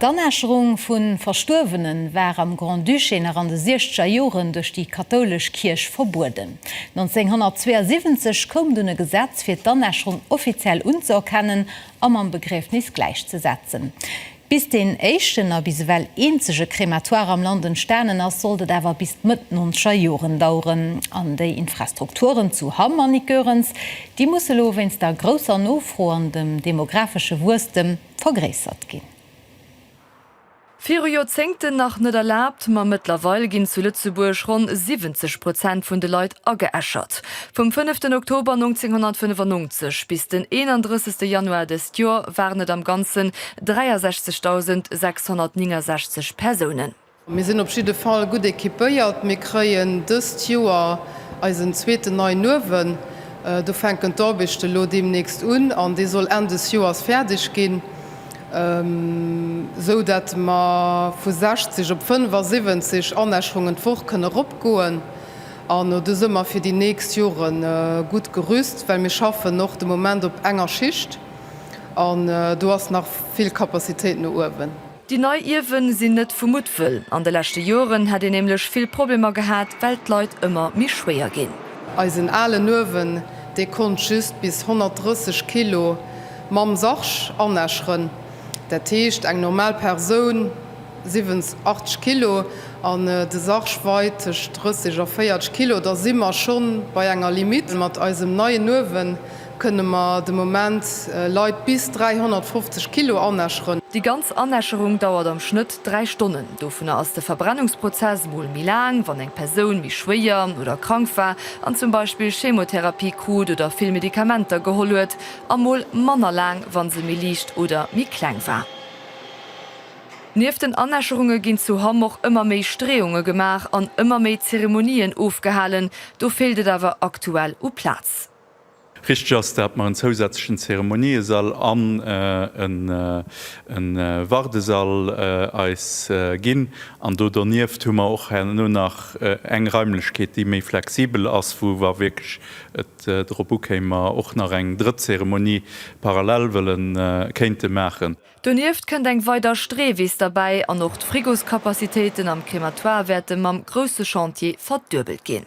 D'Anäscherung vu Verstuerwene war am Grand-Duché nach an de siechzeger Joren duerch déi kathoulesch Kierch verbueden. 1972 koum dunn e Gesetz fir d'Anäscherung offiziell unzeerkennen a mam Begriefnis gläichzesetzen. Bis deen éischten a bis ewell eenzege Krematoire am Land entstanen ass, sollt et awer bis d'Mëtt nonzeger Joren daueren. An déi Infrastrukturen zu Hamm an Icörens, déi musse lo wéinst der grousser Nofro an dem demographesche Wuesstem, vergréissert ginn. Viru Joerzéngten nach net erlaabt, ma mëttlerweil ginn zu Lëtzebuerg ronn 70 Prozent vun de Leit ageäschert. Vum fënneften Oktober 1995 bis den 31. Januar dëst Joer waren et am Ganzen 63.669 Persounen. Mir sinn op jidde Fall gutt equipéiert. Mir kréien dëst Joer eisen zweeten neien Uewen. Do fänken d'Arbechte elo deemnächst un an dee soll Enn des Joers fäerdeg ginn, esou datt mer vu 60 op 75 Anäscherungen d'Woch kënne eropgoen. An do si mer fir déi nächst Jore gutt gerüst, well mir schaffen och de Moment op enger Schicht an do ass nach vill Capacitéit no uewen. Déi nei Ierwe sinn net vu Muttwëll. An de leschte Joren hätt een nämlech vill Problemer gehat, well d'Leit ëmmer méi schwéier ginn. Eisen alen Uewen, dee konnt just bis 130 Kilo mam Sarg anäscheren. Dat heescht, eng normal Persoun 87 Kilo an de Sarg weit tëscht 30 a 40 Kilo. Da si mer schonn bei enger Limitt mat eisem neien Uewen. Kënne mer de Moment Leit bis 350 Kilo anäscheren? Déi ganz Anäscherung dauert am Schnëtt 3 Stonnen. Dovunner ass de Verbrennungsprozess mol méi laang, wann eng Persoun méi schwéier oder krank war an zum Beispill Chemotherapie krut oder vill Medikamenter geholl huet, a mol manner laang, wa se méi liicht oder méi kleng war. Nieft den Anäscherunge ginn zu Hamm och ëmmer méi Streeunge gemaach an ëmmer méi Zeremonien ofgehalen. Do feelt et awer aktuell u Plaz. Richteg ass, dat mer en zousätzlechen Zeremoniesall an e Wardesall eis ginn. An do donieft hu mer och herno nach eng Raimlechkeet, déi méi flexibel ass, wou, wa wierklech et drop ukéim, mer och nach eng drëtt Zeremonie parallel wëlle kéinte maachen. Donieft kënnt eng weider Streewiss derbäi an och d'Frigoscapacitéiten am Crématoire wäerte mam grousse Chantier verduebelt ginn.